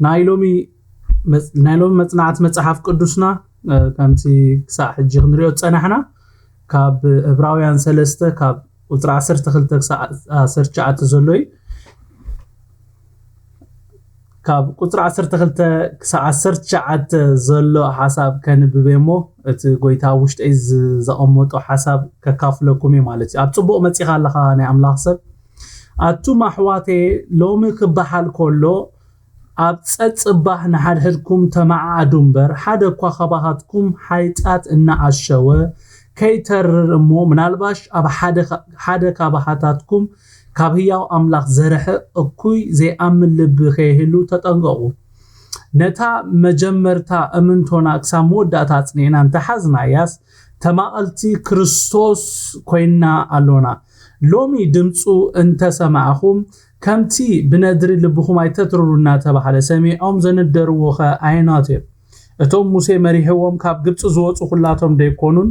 ናይ ሎሚ መጽ- ናይ ሎሚ መጽናዕቲ መጽሓፍ ቅዱስና እ፣ ከምቲ ክሳዕ ሕጂ ክንሪኦ ዝጸናሕና ካብ እብራውያን ሰለስተ ካብ ቁፅሪ ዓሰርተ ክልተ ክሳዕ ዓሰርተ ትሽዓተ ዘሎ እዩ ካብ ቁፅሪ ዓሰርተ ክልተ ክሳዕ ዓሰርተ ትሽዓተ ዘሎ ሓሳብ ከንብበ እሞ እቲ ጎይታ ኣብ ውሽጠይ ዘቐመጦ ሓሳብ ከካፍለኩም እዩ ማለት እዩ ኣብ ፅቡቕ መፂኻ ኣለኻ ናይ ኣምላኽ ሰብ ኣቱም ኣሕዋተየ ሎሚ ክበሃል ከሎ ኣብ ጸጽባሕ ንሓድሕድኩም ተመዓዓዱ እምበር፣ ሓደ እኳ ኻባኻትኩም ሓይጣት እናኣሸወ ከይተርር እሞ፣ ምናልባሽ ኣብ ሓደ ሓደ ካባኻታትኩም ካብ ህያው ኣምላኽ ዜርሕቕ እኩይ ዘይኣምን ልቢ ኸይህሉ ተጠንቀቑ። ነታ መጀመርታ እምንቶና ክሳብ መወዳእታ ኣጽኒዕና እንተ ሓዝናያስ፣ ተማቐልቲ ክርስቶስ ኰይንና ኣሎና። ሎሚ ድምጹ እንተ ሰማዕኹም፣ ከምቲ ብነድሪ ልብኹም ኣይተትርሩ እናተባህለ ሰሚዖም ዘንደርዎኸ ኣየናት እዮም? እቶም ሙሴ መሪሕዎም ካብ ግብጺ ዝወጹ ኹላቶም ደይኮኑን?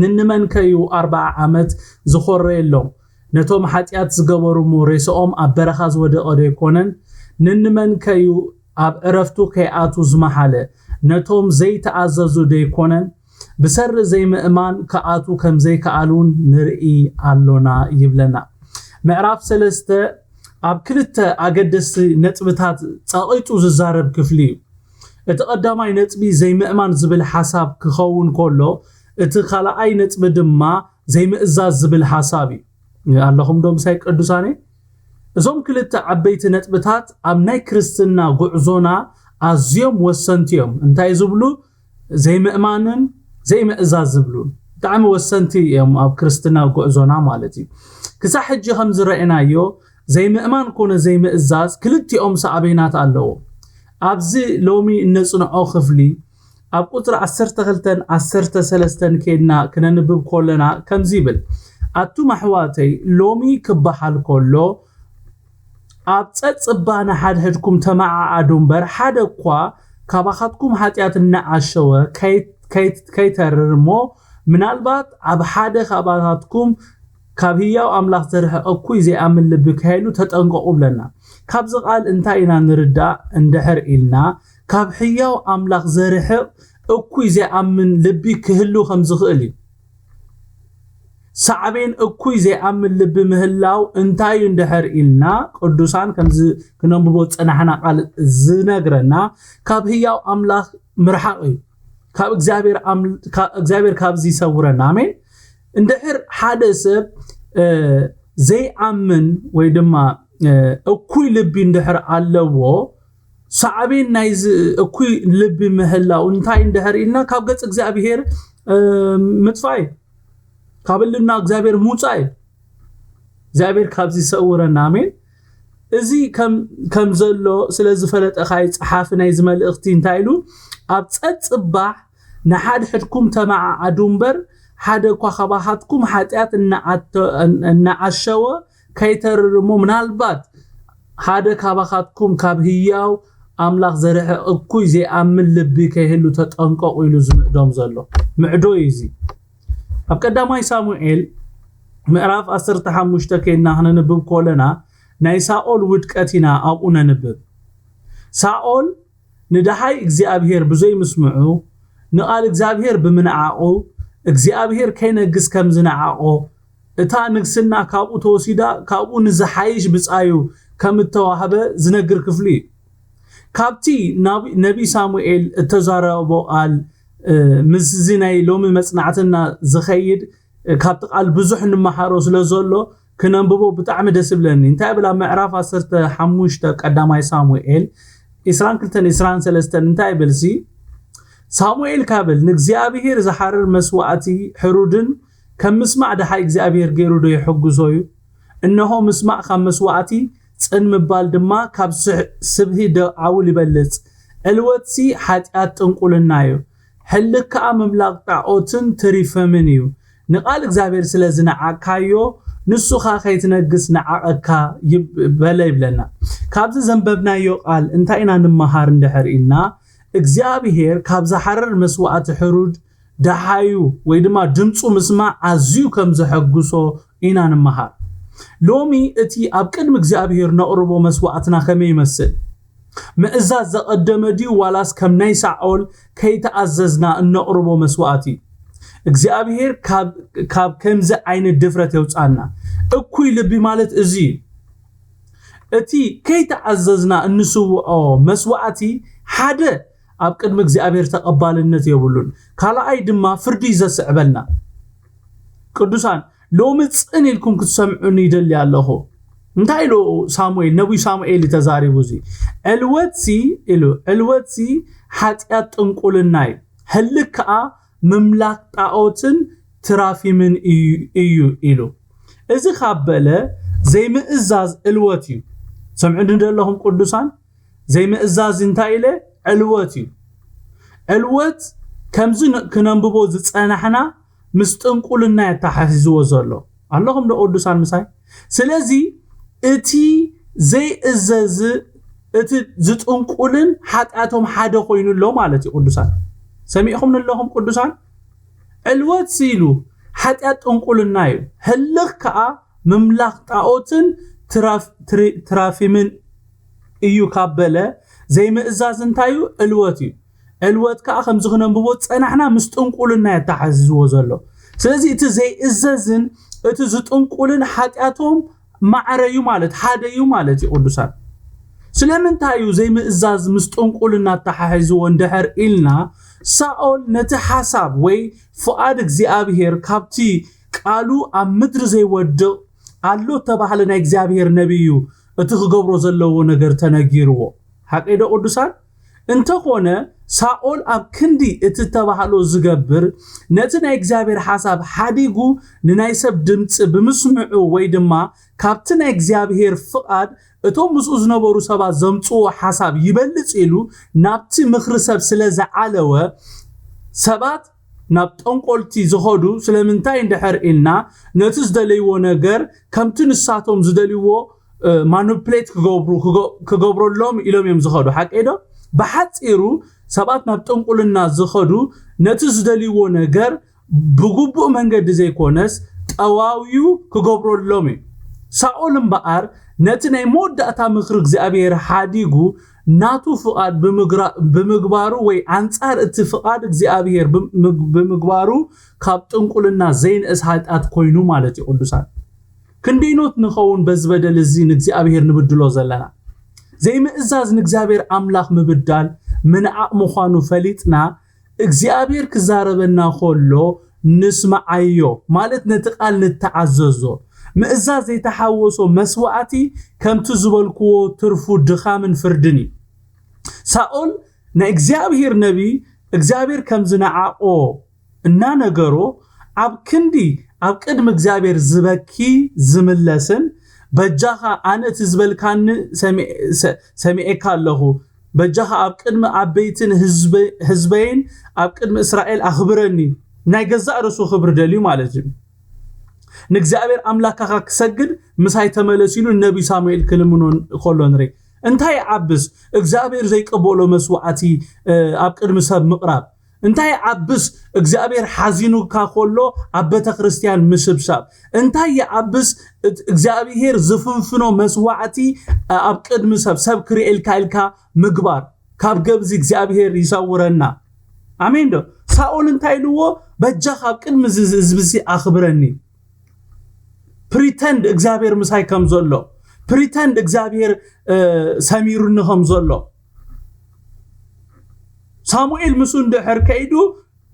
ንንመንከ እዩ ኣርብዓ ዓመት ዝኾረየሎም? ነቶም ሓጢኣት ዝገበሩ እሞ ሬስኦም ኣብ በረኻ ዝወደቐ ደይኮነን? ንንመንከ እዩ ኣብ ዕረፍቱ ከይኣትዉ ዝመሓለ? ነቶም ዘይተኣዘዙ ደይኮነን? ብሰሪ ዘይምእማን ክኣትዉ ከም ዘይከኣሉን ንርኢ ኣሎና ይብለና። ምዕራፍ ሰለስተ ኣብ ክልተ ኣገደስቲ ነጥብታት ጸቒጡ ዝዛረብ ክፍሊ እዩ። እቲ ቀዳማይ ነጥቢ ዘይምእማን ዝብል ሓሳብ ክኸውን ከሎ፣ እቲ ካልኣይ ነጥቢ ድማ ዘይምእዛዝ ዝብል ሓሳብ እዩ። ኣለኹም ዶ ምሳይ ቅዱሳነይ? እዞም ክልተ ዓበይቲ ነጥብታት ኣብ ናይ ክርስትና ጉዕዞና ኣዝዮም ወሰንቲ እዮም። እንታይ ዝብሉ? ዘይምእማንን ዘይምእዛዝ ዝብሉ ብጣዕሚ ወሰንቲ እዮም ኣብ ክርስትና ጉዕዞና ማለት እዩ ክሳብ ሕጂ ከም ዝረእናዮ ዘይምእማን ኮነ ዘይምእዛዝ ክልቲኦም ሳዕቤናት ኣለዎ ኣብዚ ሎሚ እነጽንዖ ክፍሊ ኣብ ቁጽሪ 12 13 ኬድና ክነንብብ ኮለና ከምዚ ይብል ኣቱም ኣሕዋተይ ሎሚ ክበሃል ኮሎ ኣብ ጸጽባ ንሓድሕድኩም ተመዓዓዱ እምበር ሓደ እኳ ካባኻትኩም ሓጢኣት እናዓሸወ ከይተርር እሞ ምናልባት ኣብ ሓደ ካባታትኩም ካብ ህያው ኣምላኽ ዝርሕቕ እኩይ ዘይኣምን ልቢ ከይህሉ ተጠንቀቑ ብለና ካብዚ ቃል እንታይ ኢና ንርዳእ እንድሕር ኢልና ካብ ሕያው ኣምላኽ ዘርሕቕ እኩይ ዘይኣምን ልቢ ክህሉ ከም ዝኽእል እዩ ሳዕቤን እኩይ ዘይኣምን ልቢ ምህላው እንታይ እዩ እንድሕር ኢልና ቅዱሳን ከምዚ ክነንብቦ ዝጸናሕና ቃል ዝነግረና ካብ ህያው ኣምላኽ ምርሓቕ እዩ ካብ እግዚኣብሔር ካብዚ ይሰውረና ኣሜን እንድሕር ሓደ ሰብ ዘይኣምን ወይ ድማ እኩይ ልቢ እንድሕር ኣለዎ ሳዕቤን ናይዚ እኩይ ልቢ ምህላው እንታይ እንድሕር ኢልና ካብ ገጽ እግዚኣብሄር ምጥፋእ እዩ ካብ እልና እግዚኣብሄር ምውፃእ እዩ እግዚኣብሄር ካብዚ ይሰውረና ኣሜን እዚ ከም ዘሎ ስለ ዝፈለጠ ካይ ጸሓፊ ናይዚ መልእኽቲ እንታይ ኢሉ ኣብ ጸጽባሕ ንሓድሕድኩም ተመዓዓዱ እምበር ሓደ እኳ ካባኻትኩም ሓጢኣት እናዓሸወ ከይተርር እሞ ምናልባት ሓደ ካባኻትኩም ካብ ህያው ኣምላኽ ዘርሕቕ እኩይ ዘይኣምን ልቢ ከይህሉ ተጠንቀቑ ኢሉ ዝምዕዶም ዘሎ ምዕዶ እዩ እዚ ኣብ ቀዳማይ ሳሙኤል ምዕራፍ 15 ከይና ክነንብብ ኮለና ናይ ሳኦል ውድቀት ኢና ኣብኡ ነንብብ ሳኦል ንደሃይ እግዚኣብሄር ብዘይምስምዑ፣ ንቓል እግዚኣብሄር ብምንዓቑ፣ እግዚኣብሄር ከይነግስ ከም ዝነዓቖ፣ እታ ንግስና ካብኡ ተወሲዳ ካብኡ ንዝሓይሽ ብጻዩ ከም እተዋህበ ዝነግር ክፍሊ እዩ። ካብቲ ነብዪ ሳሙኤል እተዛረቦ ቓል ምስዚ ናይ ሎሚ መጽናዕትና ዝኸይድ ካብቲ ቓል ብዙሕ እንመሃሮ ስለ ዘሎ፣ ክነንብቦ ብጣዕሚ ደስ ይብለኒ እንታይ ይብል ኣብ ምዕራፍ ዓሰርተ ሓሙሽተ ቀዳማይ ሳሙኤል ዕስራን ክልተን ዕስራን ሰለስተን እንታይ ይብልሲ ሳሙኤል ካብል ንእግዚኣብሄር ዝሓርር መስዋእቲ ሕሩድን ከም ምስማዕ ደሓይ እግዚኣብሄር ገይሩ ዶ የሕጉሶ እዩ እነሆ ምስማዕ ካብ መስዋእቲ ጽን ምባል ድማ ካብ ስብሂ ዶ ዓውል ይበልጽ ዕልወትሲ ሓጢኣት ጥንቁልና እዩ ሕልክ ከኣ ምምላኽ ጣዖትን ትሪፈምን እዩ። ንቃል እግዚኣብሔር ስለ ዝነዓቅካዮ ንሱ ከኣ ከይትነግስ ነዓቐካ በለ ይብለና። ካብዚ ዘንበብናዮ ቃል እንታይ ኢና ንመሃር እንድሕር ኢልና እግዚኣብሔር ካብ ዝሓርር መስዋእቲ ሕሩድ ደሓዩ ወይ ድማ ድምጹ ምስማዕ ኣዝዩ ከም ዘሐጉሶ ኢና ንመሃር። ሎሚ እቲ ኣብ ቅድሚ እግዚኣብሄር ነቕርቦ መስዋዕትና ከመይ ይመስል? ምእዛዝ ዘቐደመ ድዩ ዋላስ ከም ናይ ሳኦል ከይተኣዘዝና እነቕርቦ መስዋዕት እዩ? እግዚኣብሄር ካብ ከምዚ ዓይነት ድፍረት የውጽኣና። እኩይ ልቢ ማለት እዚ እዩ። እቲ ከይተኣዘዝና እንስውዖ መስዋዕቲ ሓደ ኣብ ቅድሚ እግዚኣብሔር ተቐባልነት የብሉን። ካልኣይ ድማ ፍርዲ እዩ ዘስዕበልና። ቅዱሳን ሎሚ ጽን ኢልኩም ክትሰምዑኒ ይደሊ ኣለኹ። እንታይ ኢሉ ሳሙኤል ነብዩ ሳሙኤል ተዛሪቡ እዚ ዕልወትሲ ኢሉ ዕልወትሲ ሓጢኣት ጥንቁልና እዩ ህልክ ከዓ ምምላክ ጣዖትን ትራፊምን እዩ ኢሉ እዚ ካብ በለ ዘይምእዛዝ እልወት እዩ ሰምዑ ንደለኹም ቅዱሳን ዘይምእዛዝ እንታይ ኢለ ዕልወት እዩ። ዕልወት ከምዚ ክነንብቦ ዝጸናሕና ምስ ጥንቁልና የተሓሒዝዎ ዘሎ ኣለኹም ዶ ቅዱሳን ምሳይ? ስለዚ እቲ ዘይእዘዝ እቲ ዝጥንቁልን ሓጢኣቶም ሓደ ኮይኑ ኣሎ ማለት እዩ ቅዱሳን ሰሚዕኹም ንለኹም ቅዱሳን ዕልወት ሲኢሉ ሓጢኣት ጥንቁልና እዩ ህልኽ ከዓ ምምላኽ ጣዖትን ትራፊምን እዩ ካብ በለ፣ ዘይምእዛዝ እንታይ እዩ? ዕልወት እዩ። ዕልወት ከኣ ከምዚ ክነንብቦ ዝጸናሕና ምስ ጥንቁልና እዩ ኣተሓሕዚዝዎ ዘሎ። ስለዚ እቲ ዘይእዘዝን እቲ ዝጥንቁልን ሓጢኣቶም ማዕረ እዩ ማለት ሓደ እዩ ማለት እዩ ቅዱሳን። ስለምንታይ እዩ ዘይምእዛዝ ምስ ጥንቁልና ኣተሓሒዝዎ እንድሕር ኢልና ሳኦል ነቲ ሓሳብ ወይ ፍቓድ እግዚኣብሄር ካብቲ ቃሉ ኣብ ምድሪ ዘይወድቕ ኣሎ እተባህለ ናይ እግዚኣብሄር ነብይ እዩ እቲ ክገብሮ ዘለዎ ነገር ተነጊርዎ ሓቂዶ ቅዱሳን እንተኾነ ሳኦል ኣብ ክንዲ እቲ እተባህሎ ዝገብር ነቲ ናይ እግዚኣብሄር ሓሳብ ሓዲጉ ንናይ ሰብ ድምፂ ብምስምዑ ወይ ድማ ካብቲ ናይ እግዚኣብሄር ፍቓድ እቶም ምስኡ ዝነበሩ ሰባት ዘምጽዎ ሓሳብ ይበልጽ ኢሉ ናብቲ ምኽሪ ሰብ ስለ ዝዓለወ ሰባት ናብ ጠንቆልቲ ዝኸዱ ስለምንታይ እንድሕር ኢልና ነቲ ዝደለይዎ ነገር ከምቲ ንሳቶም ዝደልይዎ ማኑፕሌት ክገብሩ ክገብረሎም ኢሎም እዮም ዝኸዱ ሓቀይ ዶ ብሓፂሩ ሰባት ናብ ጥንቁልና ዝኸዱ ነቲ ዝደልይዎ ነገር ብግቡእ መንገዲ ዘይኮነስ ጠዋውዩ ክገብረሎም እዩ ሳኦል እምበኣር ነቲ ናይ መወዳእታ ምኽሪ እግዚኣብሔር ሓዲጉ ናቱ ፍቓድ ብምግባሩ ወይ ኣንጻር እቲ ፍቓድ እግዚኣብሔር ብምግባሩ ካብ ጥንቁልና ዘይንእስ ኃጢኣት ኮይኑ ማለት እዩ ቅዱሳን ክንደይኖት ንኸውን በዚ በደል እዚ ንእግዚኣብሔር ንብድሎ ዘለና ዘይምእዛዝ ንእግዚኣብሔር ኣምላኽ ምብዳል ምንዓቕ ምዃኑ ፈሊጥና እግዚኣብሔር ክዛረበና ከሎ ንስምዓዮ ማለት ነቲ ቃል ንተዓዘዞ። ምእዛዝ ዘይተሓወሶ መስዋእቲ ከምቲ ዝበልክዎ ትርፉ ድኻምን ፍርድን እዩ። ሳኦል ናይ እግዚኣብሔር ነቢይ እግዚኣብሔር ከም ዝነዓቆ እናነገሮ ኣብ ክንዲ ኣብ ቅድሚ እግዚኣብሔር ዝበኪ ዝምለስን በጃኻ ኣነ እቲ ዝበልካኒ ሰሚዔካ ኣለኹ በጃኻ ኣብ ቅድሚ ኣበይትን ህዝበይን ኣብ ቅድሚ እስራኤል ኣኽብረኒ። ናይ ገዛእ ርእሱ ክብሪ ደልዩ ማለት እዩ። ንእግዚኣብሔር ኣምላካኻ ክሰግድ ምሳይ ተመለስ ኢሉ ነቢይ ሳሙኤል ክልምኖ ከሎ ንርኢ። እንታይ ይዓብስ እግዚኣብሔር ዘይቀበሎ መስዋዕቲ ኣብ ቅድሚ ሰብ ምቕራብ እንታይ ዓብስ እግዚኣብሔር ሓዚኑካ ኮሎ ኣብ በተክርስትያን ምስብሳብ እንታይ ይዓብስ እግዚኣብሔር ዝፍንፍኖ መስዋዕቲ ኣብ ቅድሚ ሰብ ሰብ ክርእልካ ኢልካ ምግባር ካብ ገብዚ እግዚኣብሔር ይሰውረና ኣሜን ዶ ሳኦል እንታይ ኢልዎ በጃኻ ኣብ ቅድሚ ህዝብዚ ኣኽብረኒ ፕሪተንድ እግዚኣብሔር ምሳይ ከም ዘሎ ፕሪተንድ እግዚኣብሔር ሰሚሩኒ ከም ዘሎ ሳሙኤል ምስ እንድሕር ከይዱ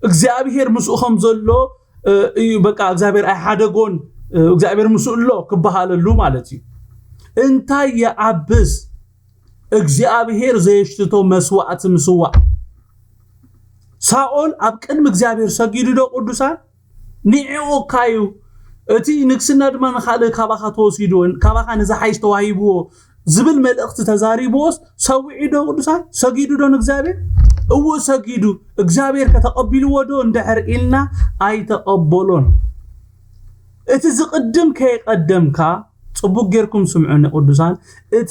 እግዚኣብሄር ምስኡ ከም ዘሎ እዩ በቃ እግዚኣብሄር ኣይሓደጎን እግዚኣብሄር ምስኡ ኣሎ ክበሃለሉ ማለት እዩ እንታይ ይኣብስ እግዚኣብሄር ዘየሽትቶ መስዋእቲ ምስዋዕ ሳኦል ኣብ ቅድሚ እግዚኣብሄር ሰጊዱ ዶ ቅዱሳን ኒዒኡ እካ እዩ እቲ ንግስና ድማ ንካልእ ካባካ ተወሲዱ ካባካ ንዝሓይሽ ተዋሂብዎ ዝብል መልእክቲ ተዛሪብዎስ ሰዊዑ ዶ ቅዱሳን ሰጊዱ ዶ ንእግዚኣብሔር እዎ ሰጊዱ እግዚኣብሔር ከተቀቢልዎ ዶ እንድሕር ኢልና ኣይተቀበሎን እቲ ዝቅድም ከየቀደምካ ጽቡቅ ጌርኩም ስምዑኒ ቅዱሳን እቲ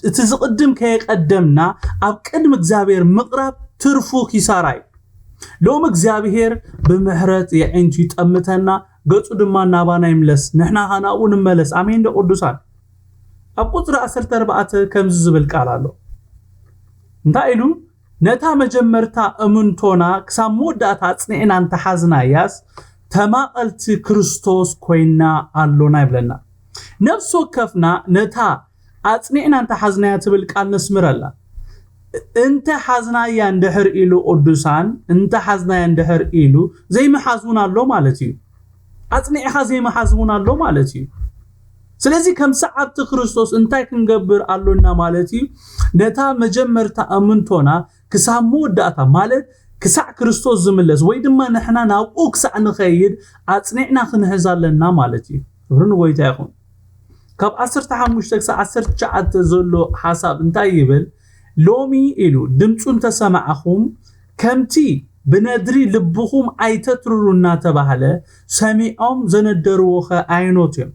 እቲ ዝቅድም ከየቀደምና ኣብ ቅድሚ እግዚኣብሔር ምቅራብ ትርፉ ኪሳራ እዩ ሎሚ እግዚኣብሄር ብምሕረት የዒንቱ ይጠምተና፣ ገጹ ድማ ናባና ይምለስ፣ ንሕና ኸኣ ናብኡ ንመለስ። ኣሜን ዶ ቅዱሳን? ኣብ ቁጽሪ 14 ከምዚ ዝብል ቃል ኣሎ። እንታይ ኢሉ? ነታ መጀመርታ እምንቶና ክሳብ መወዳእታ ኣጽኒዕና እንተሓዝናያስ ተማቐልቲ ክርስቶስ ኮይና ኣሎና ይብለና። ነፍሲ ወከፍና ነታ ኣጽኒዕና እንተ ሓዝናያ ትብል ቃል ነስምረላ። እንተ ሓዝናያ እንድሕር ኢሉ ቅዱሳን፣ እንተ ሓዝናያ እንድሕር ኢሉ ዘይምሓዝ እውን ኣሎ ማለት እዩ። ኣጽኒዕኻ ዘይምሓዝ እውን ኣሎ ማለት እዩ። ስለዚ ከም ሰዓብቲ ክርስቶስ እንታይ ክንገብር ኣሎና ማለት እዩ? ነታ መጀመርታ እምንቶና ክሳብ መወዳእታ ማለት ክሳዕ ክርስቶስ ዝምለስ ወይ ድማ ንሕና ናብኡ ክሳዕ ንኸይድ ኣጽኒዕና ክንሕዝ ኣለና ማለት እዩ። ክብሪ ንጎይታ ይኹን። ካብ ዓሰርተ ሓሙሽተ ክሳብ ዓሰርተ ትሽዓተ ዘሎ ሓሳብ እንታይ ይብል? ሎሚ ኢሉ ድምፁ እንተሰማዕኹም ከምቲ ብነድሪ ልብኹም ኣይተትርሩ እናተባህለ ሰሚዖም ዘነደርዎኸ ኣየኖት እዮም?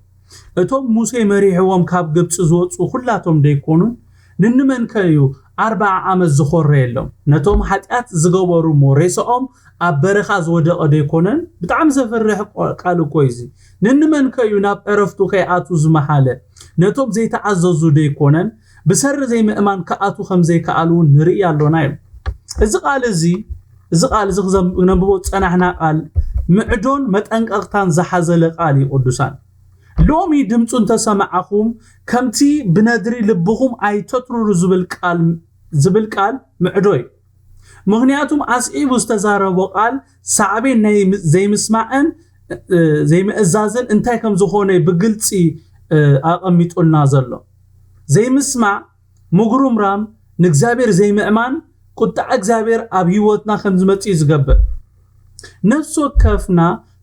እቶም ሙሴ መሪሕዎም ካብ ግብጺ ዝወጽኡ ዅላቶም ደይኰኑን? ንንመንከ እዩ ኣርብዓ ዓመት ዝዀረየሎም? ነቶም ሓጢኣት ዝገበሩ እሞ ሬሳኦም ኣብ በረኻ ዝወደቐ ደይኰነን? ብጣዕሚ ዘፍርሕ ቃል እኮ እዩ እዚ! ንንመንከ እዩ ናብ ዕረፍቱ ከይኣትዉ ዝመሓለ? ነቶም ዘይተኣዘዙ ደይኰነን? ብሰሪ ዘይምእማን ክኣትዉ ከም ዘይከኣሉ እውን ንርኢ ኣሎና ኢሉ። እዚ ቓል እዚ እዚ ቓል እዚ ክነንብቦ ዝጸናሕና ቓል ምዕዶን መጠንቀቕታን ዝሓዘለ ቓል እዩ ቅዱሳን። ሎሚ ድምጹ እንተ ሰማዕኹም ከምቲ ብነድሪ ልብኹም ኣይተትርሩ ዝብል ቃል ዝብል ቃል ምዕዶ እዩ። ምኽንያቱም ኣስዒቡ ዝተዛረቦ ቓል ሳዕቤን ናይ ዘይምስማዕን ዘይምእዛዝን እንታይ ከም ዝኾነ እዩ ብግልፂ ኣቐሚጡልና ዘሎ። ዘይምስማዕ፣ ምጉርምራም፣ ንእግዚኣብሔር ዘይምእማን ቁጥዓ እግዚኣብሔር ኣብ ህይወትና ከም ዝመፅእ እዩ ዝገብር። ነፍሲ ወከፍና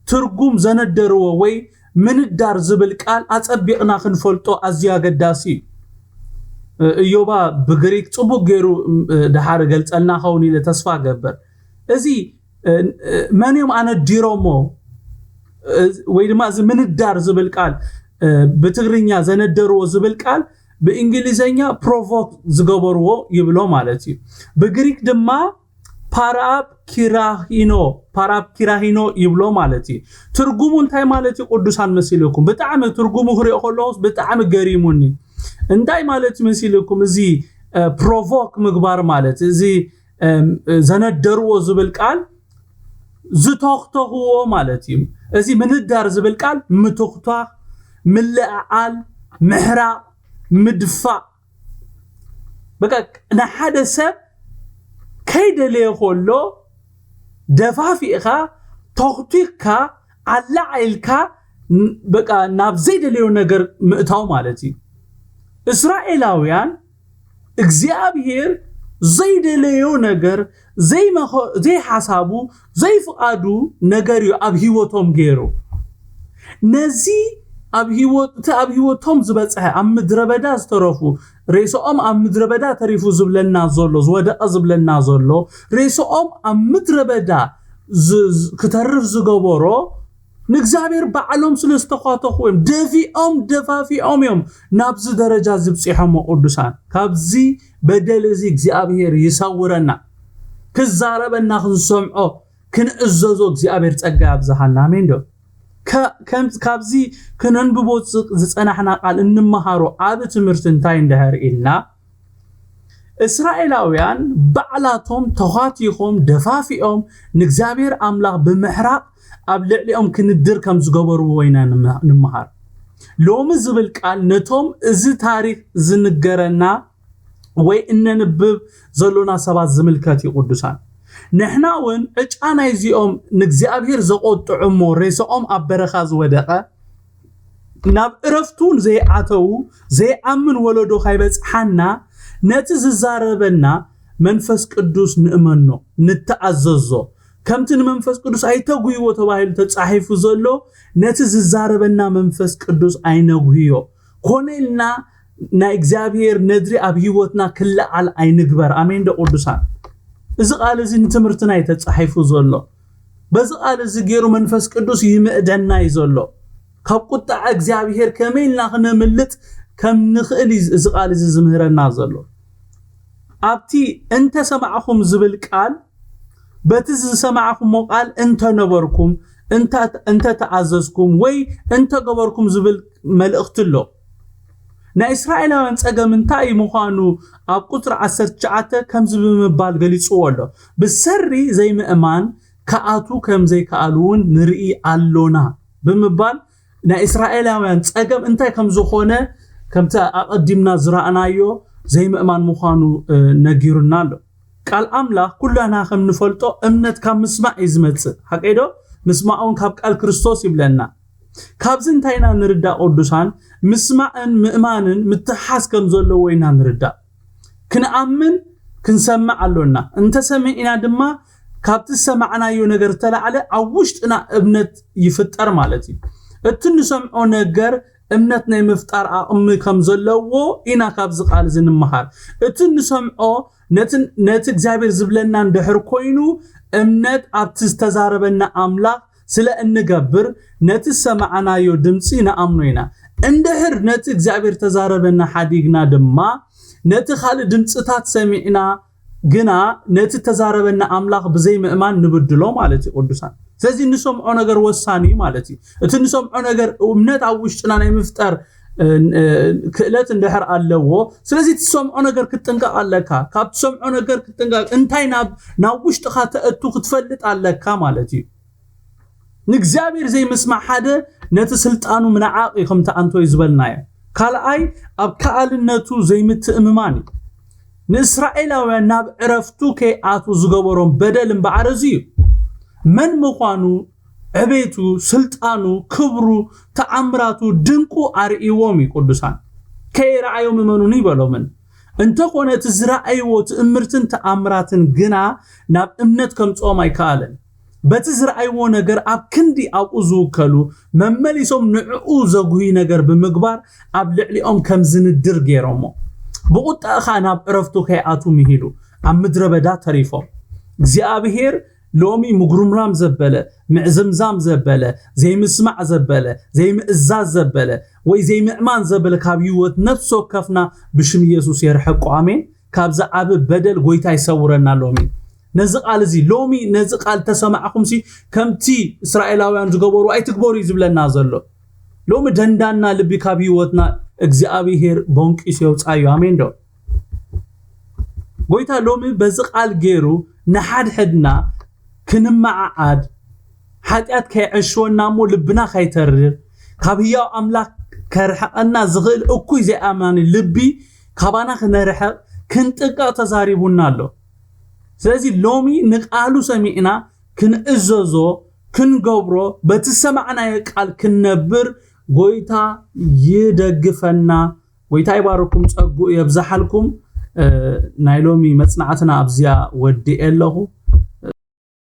ትርጉም ዘነደርዎ ወይ ምንዳር ዝብል ቃል ኣፀቢቕና ክንፈልጦ ኣዝዩ ኣገዳሲ እዩ። እዮባ ብግሪክ ጽቡቅ ገይሩ ድሓር ገልጸልና ኸውን ኢለ ተስፋ ገበር እዚ መን እዮም ኣነዲሮሞ ወይ ድማ እዚ ምንዳር ዝብል ቃል ብትግርኛ ዘነደርዎ ዝብል ቃል ብእንግሊዘኛ ፕሮቮክ ዝገበርዎ ይብሎ ማለት እዩ ብግሪክ ድማ ፓራብ ኪራሂኖ ፓራብ ኪራሂኖ ይብሎ ማለት እዩ ትርጉሙ እንታይ ማለት እዩ ቅዱሳን መሲልኩም ብጣዕሚ ትርጉሙ ክሪኦ ከለኹስ ብጣዕሚ ገሪሙኒ እንታይ ማለት መሲልኩም እዚ ፕሮቮክ ምግባር ማለት እዚ ዘነደርዎ ዝብል ቃል ዝተኽተኽዎ ማለት እዩ። እዚ ምንዳር ዝብል ቃል ምትኽቷኽ፣ ምልእዓል፣ ምሕራቕ፣ ምድፋእ በቃ ንሓደ ሰብ ከይደለየ ከሎ ደፋፊእኻ ተኽቲኽካ ኣላዓኢልካ በቃ ናብ ዘይደለዮ ነገር ምእታው ማለት እዩ። እስራኤላውያን እግዚኣብሔር ዘይደለዮ ነገር ዘይሓሳቡ ዘይፍቓዱ ነገር እዩ ኣብ ህይወቶም ገይሩ ነዚ ኣብ ህይወት እቲ ኣብ ህይወቶም ዝበፅሐ ኣብ ምድረ በዳ ዝተረፉ ሬስኦም ኣብ ምድረ በዳ ተሪፉ ዝብለና ዘሎ ዝወደቐ ዝብለና ዘሎ ሬስኦም ኣብ ምድረ በዳ ክተርፍ ዝገበሮ ንእግዚኣብሔር ባዕሎም ስለ ዝተዃተኹ እዮም ደፊኦም ደፋፊኦም እዮም ናብዚ ደረጃ ዝብፂሖሞ ቅዱሳን ካብዚ በደል እዚ እግዚኣብሔር ይሰውረና ክዛረበና ክንሰምዖ ክንእዘዞ እግዚኣብሔር ጸጋ ያብዝሃልና ኣሜን ዶ ካብዚ ክነንብቦ ዝጸናሕና ቃል እንመሃሮ ዓብ ትምህርቲ እንታይ እንድሕር ኢልና እስራኤላውያን ባዕላቶም ተዃቲኾም ደፋፊኦም ንእግዚኣብሔር ኣምላኽ ብምሕራቕ ኣብ ልዕሊኦም ክንድር ከም ዝገበርዎ ኢና ንምሃር ሎሚ ዝብል ቃል ነቶም እዚ ታሪኽ ዝንገረና ወይ እነንብብ ዘሎና ሰባት ዝምልከት እዩ ቅዱሳን ንሕና እውን ዕጫ ናይዚኦም ንእግዚኣብሔር ዘቆጥዑ እሞ ሬሳኦም ኣብ በረኻ ዝወደቐ ናብ እረፍቱ እውን ዘይኣተዉ ዘይኣምን ወለዶ ካይበጽሓና ነቲ ዝዛረበና መንፈስ ቅዱስ ንእመኖ ንተኣዘዞ ከምቲ ንመንፈስ ቅዱስ ኣይተጉህይዎ ተባሂሉ ተጻሒፉ ዘሎ ነቲ ዝዛረበና መንፈስ ቅዱስ ኣይነጉህዮ ኮነ ኢልና ናይ እግዚኣብሔር ነድሪ ኣብ ህይወትና ክለዓል ኣይንግበር ኣሜን ዶ ቅዱሳን እዚ ቃል እዚ ንትምህርትና እዩ ተጻሒፉ ዘሎ በዚ ቃል እዚ ገይሩ መንፈስ ቅዱስ ይምእደና እዩ ዘሎ። ካብ ቁጣዕ እግዚኣብሔር ከመይ ኢልና ክነምልጥ ከም ንኽእል እዩ እዚ ቃል እዚ ዝምህረና ዘሎ። ኣብቲ እንተ ሰማዕኹም ዝብል ቃል በቲ ዝሰማዕኹሞ ቃል እንተ ነበርኩም፣ እንተ ተኣዘዝኩም ወይ እንተ ገበርኩም ዝብል መልእኽቲ ኣሎ። ናይ እስራኤላውያን ጸገም እንታይ ምዃኑ ኣብ ቁጽሪ ዓሰርተ ትሽዓተ ከምዚ ብምባል ገሊጽዎ ኣሎ፣ ብሰሪ ዘይምእማን ክኣትዉ ከም ዘይከኣሉ'ውን ንርኢ ኣሎና ብምባል ናይ እስራኤላውያን ጸገም እንታይ ከም ዝኾነ ከምቲ ኣቐዲምና ዝረኣናዮ ዘይምእማን ምዃኑ ነጊሩና ኣሎ። ቃል ኣምላኽ ኩላና ከም ንፈልጦ እምነት ካብ ምስማዕ እዩ ዝመጽእ፣ ሓቀይዶ? ምስማዕ'ውን ካብ ቃል ክርስቶስ ይብለና። ካብዚ እንታይ ኢና ንርዳእ ቅዱሳን ምስማዕን ምእማንን ምትሕሓዝ ከም ዘለዎ ኢና ንርዳእ ክንኣምን ክንሰምዕ ኣሎና እንተሰሚዕና ድማ ካብቲ ዝሰማዕናዮ ነገር ተላዕለ ኣብ ውሽጥና እምነት ይፍጠር ማለት እዩ እቲ እንሰምዖ ነገር እምነት ናይ ምፍጣር ኣቕሚ ከም ዘለዎ ኢና ካብዚ ቃል እዚ ንምሃር እቲ እንሰምዖ ነቲ እግዚኣብሔር ዝብለናን ድሕር ኮይኑ እምነት ኣብቲ ዝተዛረበና ኣምላኽ ስለ እንገብር ነቲ ዝሰማዕናዮ ድምጺ ንኣምኖ ኢና። እንድሕር ነቲ እግዚኣብሔር እተዛረበና ሓዲግና ድማ ነቲ ካልእ ድምጽታት ሰሚዕና ግና ነቲ እተዛረበና ኣምላኽ ብዘይ ምእማን ንብድሎ ማለት እዩ ቅዱሳን። ስለዚ እንሰምዖ ነገር ወሳኒ እዩ ማለት እዩ። እቲ እንሰምዖ ነገር እምነት ኣብ ውሽጥና ናይ ምፍጠር ክእለት እንድሕር ኣለዎ ስለዚ ትሰምዖ ነገር ክትጥንቀቕ ኣለካ ካብ ትሰምዖ ነገር ክትጥንቀቕ እንታይ ናብ ናብ ውሽጥኻ ተእቱ ክትፈልጥ ኣለካ ማለት እዩ ንእግዚኣብሔር ዘይምስማዕ ሓደ ነቲ ስልጣኑ ምንዓቕ እዩ ከምቲ ኣንቶይ ዝበልናዮ ካልኣይ ኣብ ከኣልነቱ ዘይምትእምማን እዩ ንእስራኤላውያን ናብ ዕረፍቱ ከይኣትዉ ዝገበሮም በደል እምበኣር እዚ እዩ መን ምዃኑ ዕቤቱ፣ ስልጣኑ፣ ክብሩ፣ ተኣምራቱ፣ ድንቁ ኣርእይዎም እዩ ቅዱሳን። ከይረኣዮም እመኑኒ በሎምን። እንተኾነ እቲ ዝረኣይዎ ትእምርትን ተኣምራትን ግና ናብ እምነት ከምጽኦም ኣይከኣለን። በቲ ዝረኣይዎ ነገር ኣብ ክንዲ ኣብኡ ዝውከሉ፣ መመሊሶም ንዕኡ ዘጉሂ ነገር ብምግባር ኣብ ልዕሊኦም ከም ዝንድር ገይሮሞ። ብቑጠዐ ኸኣ ናብ ዕረፍቱ ከይኣትዉ ምሂሉ ኣብ ምድረ በዳ ተሪፎም። እግዚኣብሔር ሎሚ ምጉርምራም ዘበለ፣ ምዕዝምዛም ዘበለ፣ ዘይምስማዕ ዘበለ፣ ዘይምእዛዝ ዘበለ፣ ወይ ዘይምእማን ዘበለ ካብ ሂወት ነፍሲ ወከፍና ብሽም ኢየሱስ የርሕቆ ኣሜን ካብዚ ዓቢ በደል ጎይታ ይሰውረና ሎሚ ነዚ ቃል እዚ ሎሚ ነዚ ቃል ተሰማዕኹምሲ ከምቲ እስራኤላውያን ዝገበሩ ኣይትግበሩ እዩ ዝብለና ዘሎ ሎሚ ደንዳና ልቢ ካብ ሂወትና እግዚኣብሄር ቦንቂሱ የውፃዩ ኣሜን ዶ ጎይታ ሎሚ በዚ ቃል ገይሩ ንሓድሕድና ክንመዓዓድ ሓጢኣት ከይዐሽወና እሞ ልብና ከይተርር ካብ ህያው ኣምላኽ ከርሕቐና ዝኽእል እኩይ ዘይኣማኒ ልቢ ካባና ክነርሕቕ ክንጥንቀቕ ተዛሪቡና ኣሎ ስለዚ ሎሚ ንቃሉ ሰሚዕና ክንእዘዞ ክንገብሮ በቲ ሰማዕናዮ ቃል ክንነብር ጎይታ ይደግፈና ጎይታ ይባርኩም ጸጉኡ የብዛሓልኩም ናይ ሎሚ መጽናዕትና ኣብዚኣ ወዲኤ ኣለኹ።